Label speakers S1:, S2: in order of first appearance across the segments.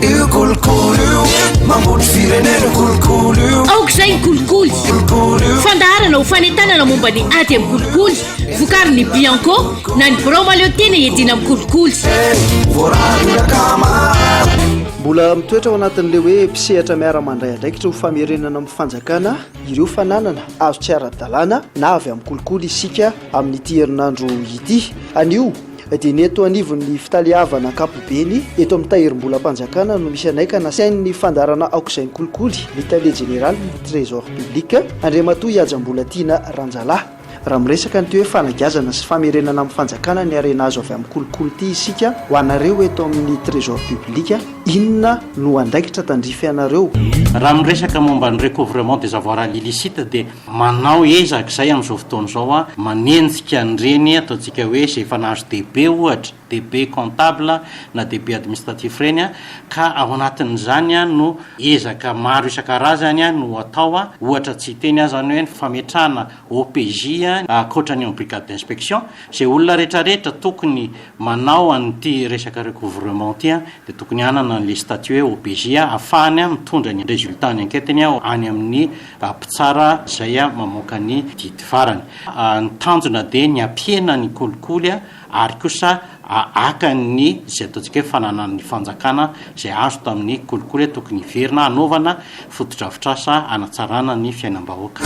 S1: Io kolikoly io mambotry firenena kolikoly io aoka izay ny kolikoly fandaharana ho fanentanana momba ny ady amin'ny kolikoly vokary ny bianco na ny birao maleo tena edina amin'ny kolikoly
S2: mbola mitoetra ao anatin'ilay hoe mpisehatra miara mandray andraikitra ho famerenana amin'ny fanjakana ireo fananana azo tsy ara-dalàna na avy amin'ny kolikoly isika amin'ity herinandro ity anio dia ny eto anivon'ny fitaleavana ankapobeny eto amin'ny tahirimbolam-panjakana no misy anay ka nasain'ny fandaharana aok'izay ny kolikoly ny tale jeneralin'ny trésor public Andriamatoa Ihaja Mbolatiana Ranjalahy. Raha miresaka an'ity hoe fanagiazana sy famerenana amin'ny fanjakana ny harena azo avy amin'ny kolikoly ity isika, ho anareo eto amin'ny trésor public, inona no andraikitra tandrify anareo? Raha miresaka
S3: momba ny recouvrement des avoirs à l'illicite dia. Manao ezaka izay amin'izao fotoana izao an, manenjika an'ireny ataontsika hoe izay efa nahazo DEB ohatra, DEB comptable na DEB administratif ireny an, ka ao anatin'izany an no ezaka maro isan-karazany an no atao an, ohatra tsy hiteny aho izany hoe ny fametrahana OPJ an ankoatra ny eo amin'ny brigade d'inspection, izay olona rehetrarehetra tokony manao an'ity resaka recouvrement ity an dia tokony hanana an'ilay statut hoe OPJ an ahafahany an mitondra ny résultat-n'ny enquête-ny an any amin'ny Mpitsara izay mamoaka ny didy farany. Ny tanjona dia ny hampihena ny kolikoly ary kosa haka ny izay ataontsika hoe fananan'ny fanjakana izay azo tamin'ny kolikoly tokony hiverina hanaovana fotodrafitrasa hanatsarana ny fiainam-bahoaka.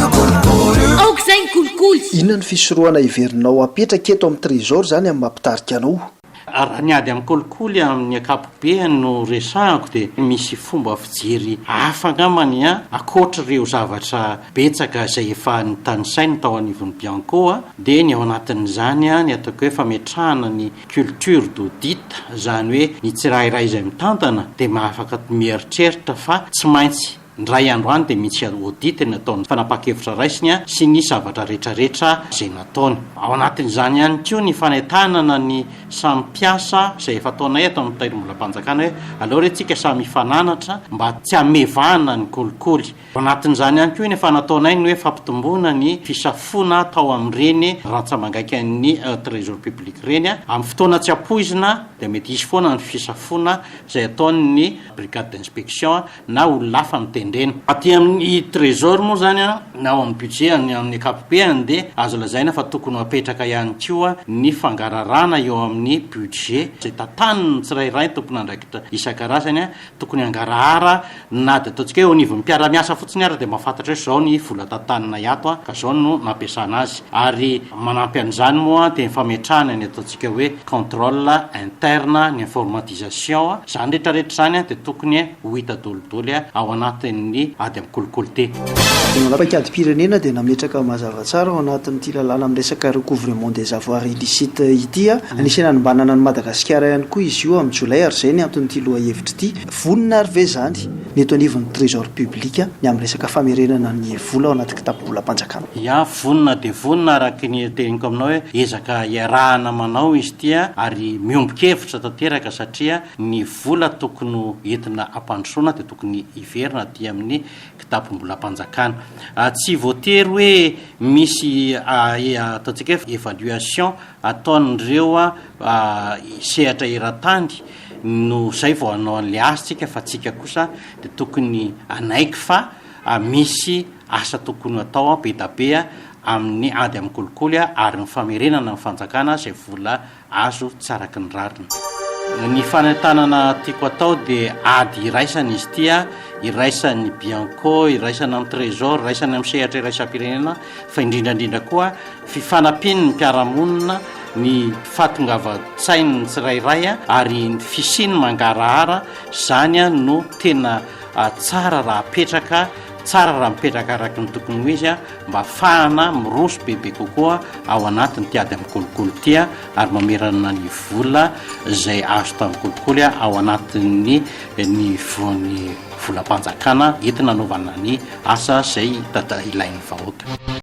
S3: Aoka
S1: izay ny kolikoly! Inona ny fisorohana
S2: heverinao hapetraka eto amin'ny Trésor izany amin'ny maha mpitarika anao? Raha ny ady amin'ny
S3: kolikoly amin'ny ankapobeny no resahako dia misy fomba fijery hafa angambany ankoatr'ireo zavatra betsaka izay efa notanisaina tao anivon'ny Bianco dia ny ao anatin'izany ny ataoko hoe fametrahana ny culture d'audit izany hoe ny tsirairay izay mitantana dia afaka mieritreritra fa tsy maintsy Indray andro any dia misy audit ny ataony, fanapahan-kevitra raisiny sy ny zavatra rehetrarehetra izay nataony. Ao anatin'izany ihany koa ny fanentanana ny samy mpiasa izay efa ataonay ato amin'ny Tahirimbolam-panjakana hoe aleo re tsika samy hifananatra mba tsy hamevahana ny kolikoly. Ao anatin'izany ihany koa ny efa nataonay ny hoe fampitomboana ny fisafoana atao amin'ireny rantsamangaikan'ny Trésor public ireny. Amin'ny fotoana tsy ampoizina dia mety hisy foana ny fisafoana izay ataon'ny Brigade d'inspection. na olona hafa mitendrena. Aty amin'ny Trésor moa izany an, na ao amin'ny Budget any amin'ny ankapobehany dia azo lazaina fa tokony ho apetraka ihany koa ny fangararana eo amin'ny Budget izay tantanin'ny tsirairay ny tompon'andraikitra isan-karazany an, tokony hangarahara na dia ataontsika hoe eo anivon'ny mpiara-miasa fotsiny ary dia mahafantatra hoe izao ny vola tantaninay ato an, ka izao no nampiasana azy ary manampy an'izany moa dia ny fametrahana ny ataontsika. midika hoe contrôle interne ny informatisation, izany rehetra rehetra izany dia tokony ho hita dolidoly ao anatin'ny ady amin'ny kolikoly ty. Ny Paikadim-pirenena
S2: dia nametraka mazava tsara ao anatin'ity lalàna miresaka recouvrement des avoirs illicites ity, anisan'ny hanombanana an'i Madagasikara ihany koa izy io amin'ny Jolay ary izay ny anton'ity lohahevitra ity. Vonona ary ve izany ny eto anivon'ny Trésor public ny amin'ny resaka famerenana ny vola ao anaty kitapom-bolam-panjakana? Iah vonona
S3: dia vonona araka ny teniko aminao hoe ezaka iarahana manao izy ity ary miombon-kevitra tanteraka satria ny vola tokony ho entina hampandrosoana dia tokony hiverina aty amin'ny kitapom-bolam-panjakana. Tsy voatery hoe misy ataontsika hoe evaluation ataon'ireo sehatra eran-tany no zay vao hanao an'le asa tsika fa tsika kosa de tokony hanaiky fa misy asa tokony hatao be da be amin'ny ady amin'ny kolikoly ary ny famerenana ny fanjakana zay vola azo tsy araky ny rariny. Ny fanentanana tiako atao de ady iraisana izy ty, iraisan'ny bianco, iraisana amin'ny trésor, iraisana amin'ny sehatra iraisam-pirenena fa indrindra indrindra koa, Fifanampian'ny mpiara-monina, ny fahatongavan-tsain'ny tsirairay ary ny fisiany mangarahara, izany no tena tsara raha apetraka, tsara raha mipetraka araka ny tokony ho izy mba hahafahana miroso bebe kokoa ao anatin'ity ady amin'ny kolikoly ity ary mamerana ny vola izay azo tamin'ny kolikoly ao anatin'ny ny voan'ny volam-panjakana entina hanaovana ny asa izay ilain'ny vahoaka.